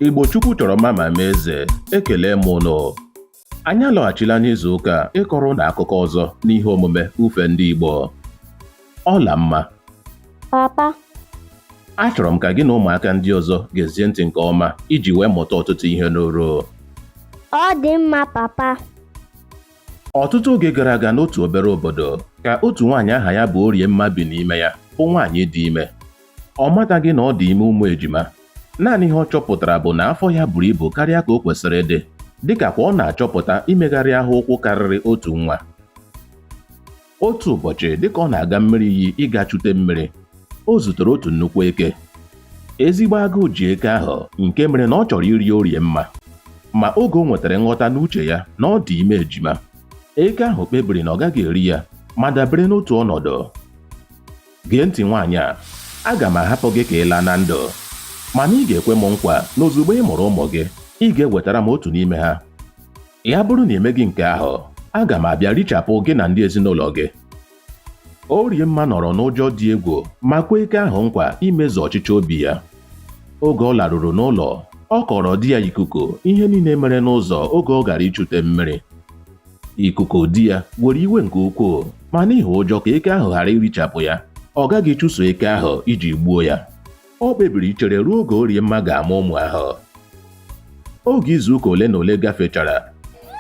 Igbo Chukwu chọrọ mma ma mee eze ekele m ụnụ anyị alọghachila n'izu ụka a ịkọrọ ụnụ akụkọ ọzọ n'ihe omume ufe ndị Igbo Ọlamma papa achọrọ m ka gị na ụmụaka ndị ọzọ gezie ntị nke ọma iji wee mụta ọtụtụ ihe n'uru ọ dị mma papa ọtụtụ oge gara aga n'otu obere obodo ka otu nwaanyị aha ya bụ Oriemma bi n'ime ya bụ nwaanyị dị ime Ọ mataghị na ọ dị ime ụmụ ejima. Naanị ihe ọ chọpụtara bụ na afọ ya buru ibu karịa ka o kwesịrị ịdị, dịka kwa ọ na-achọpụta imegharị ahụ ụkwụ karịrị otu nwa. Otu ụbọchị, dịka ọ na-aga mmiri iyi ịga chute mmiri, o zutere otu nnukwu eke. Ezigbo agụụ ji eke ahụ nke mere na ọ chọrọ iri Oriemma. Ma oge o nwetara nghọta n'uche ya na ọ dị ime ejima, eke ahụ kpebiri na ọ gaghị eri ya ma dabere n'otu ọnọdụ. Gee ntị nwaanyị a, aga m ahapụ gị ka ị laa na ndụ. Mana ị ga-ekwe m nkwa na ozugbo ị mụrụ ụmụ gị, ị ga-ewetara m otu n'ime ha. Ya bụrụ na emeghị nke ahụ, aga m abịa richapụ gị na ndị ezinụlọ gị. Oriemma nọrọ n'ụjọ dị egwu ma kwe eke ahụ nkwa imezu ọchịchọ obi ya. Oge ọ laruru n'ụlọ, ọ kọọrọ di ya Ikuku ihe niile mere n'ụzọ oge ọ gara ichute mmiri. Ikuku di ya were iwe nke ukwuu ma n'ihi ụjọ ka eke ahụ ghara irichapụ ya ọ gaghị chụso eke ahụ iji gbuo ya o kpebiri ichere ruo oge Oriemma ga-amụ ụmụ ahụ oge izuụka ole na ole gafechara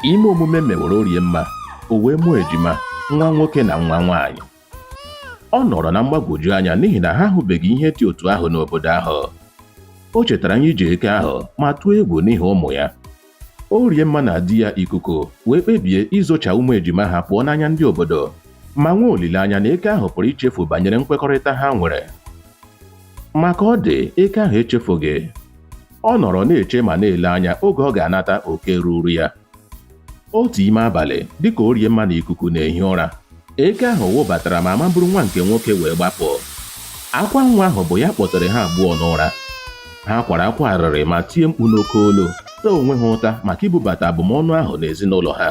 ime omume mewere Oriemma o wee mụọ ejima nwa nwoke na nwa nwaanyị ọ nọrọ na mgbagwoju anya n'ihi na ha ahụbeghị ihe dị otu ahụ n'obodo ahụ o chetara ihe ya ji eke ahụ ma tụọ egwu n'ihi ụmụ ya Oriemma na di ya Ikuku wee kpebie izocha ụmụ ejima ha pụọ n'anya ndị obodo ma nwee olileanya na eke ahụ pụrụ ichefu banyere nkwekọrịta ha nwere. Ma ka ọ dị, eke ahụ echefughị. Ọ nọrọ na-eche ma na-ele anya oge ọ ga-anata oke ruuru ya. Otu ime abalị, dịka Oriemma na Ikuku na-ehi ụra, Eke ahụ wụbatara ma maburu nwa nke nwoke wee gbapụ. Akwa nwa ahụ bụ ya kpọtere ha abụọ n'ụra. Ha kwara akwa arịrị ma tie mkpu n'oke olu, taa onwe ha ụta maka ibubata abụmọnụ ahụ n'ezinụlọ ha.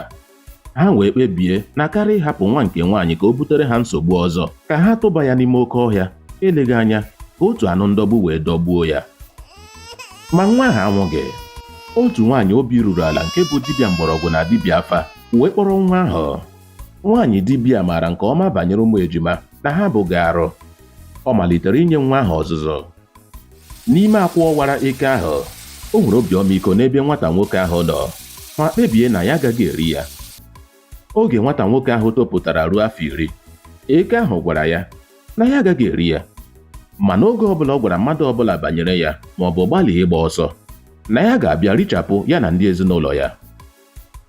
Ha wee kpebie na karịa ịhapụ nwa nke nwaanyị ka o butere ha nsogbu ọzọ, ka ha tụba ya n'ime oke ọhịa, eleghị anya ka otu anụ ndọgbu wee dọgbuo ya. Ma nwa ahụ anwụghị. Otu nwaanyị obi ruru ala nke bụ dibịa mgbọrọgwụ na dibịa afa wee kpọrọ nwa ahụ Nwaanyị dibịa maara nke ọma banyere ụmụ ejima na ha abụghị arụ. Ọ malitere inye nwa ahụ ọzụzụ. N'ime akwụ ọwara eke ahụ, o nwere obi ọmịiko n'ebe nwata nwoke ahụ nọ ma kpebie na ya agaghị eri ya. Oge nwata nwoke ahụ topụtara ruo afọ iri, eke ahụ gwara ya na ya agaghị eri ya. Ma n'oge ọbụla ọ gwara mmadụ ọbụla banyere ya maọbụ gbalịa ịgba ọsọ, na ya ga-abịa richapụ ya na ndị ezinụlọ ya.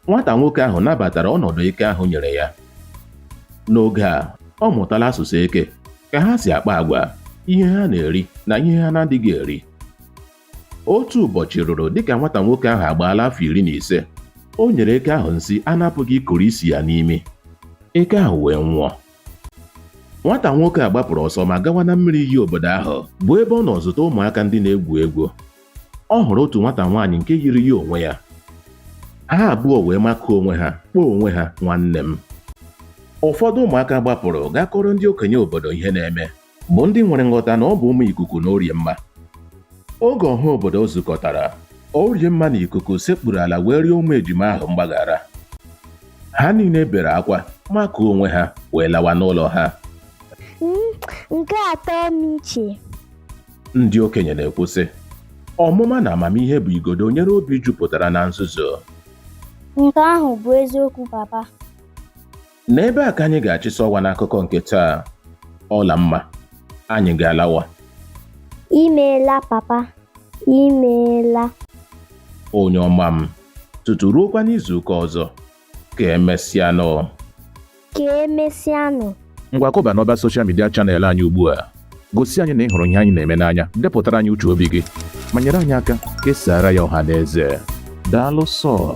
Nwata nwoke ahụ nabatara ọnọdụ eke ahụ nyere ya. N'oge a, ọ mụtala asụsụ eke, ka ha si akpa agwa, ihe ha na-eri na ihe ha na-adịghị eri. Otu ụbọchị ruru dịka nwata nwoke ahụ agbaala afọ iri na ise, o nyere eke ahụ nsi a na-apụghị ikuru isi ya n'imi. Eke ahụ wee nwụọ. Nwata nwoke a gbapụrụ ọsọ ma gawa na mmiri iyi obodo ahụ, bụ ebe ọ nọ zuta ụmụaka ndị na-egwu egwu. ọ hụrụ otu nwata nwaanyị nke yiri ya onwe ya ha abụọ wee makụọ onwe ha kpọọ onwe ha nwanne m ụfọdụ ụmụaka gbapụrụ gaa kọrọ ndị okenye obodo ihe na-eme bụ ndị nwere nghọta na ọ bụ ụmụ Ikuku na Oriemma oge ọha obodo zukọtara Oriemma na Ikuku sekpuru ala wee rịọ ụmụ ejima ahụ mgbaghara ha niile bere akwa makụọ onwe ha wee lawa n'ụlọ ha nke atọ m iche ndị okenye na-ekwu sị ọmụma na amamihe bụ igodo nyere obi jupụtara na nzuzo Nke ahụ bụ eziokwu papa. n'ebe a ka anyị ga-achịsa ọwa n'akụkọ nke taa Ọlamma anyị ga-alawa Imeela papa. Imeela. onye ọma m tutu ruokwa n'izu ụka ọzọ Ka emesịanụ. Ka emesịanụ. Ngwa kụba n'ọba soshal midia chanel anyị ugbu a. Gosi anyị na ị hụrụ ihe anyị na-eme n'anya, depụtara anyị uche obi gị, ma nyere anyị aka kesaara ya ọha na eze. Daalụ sọ.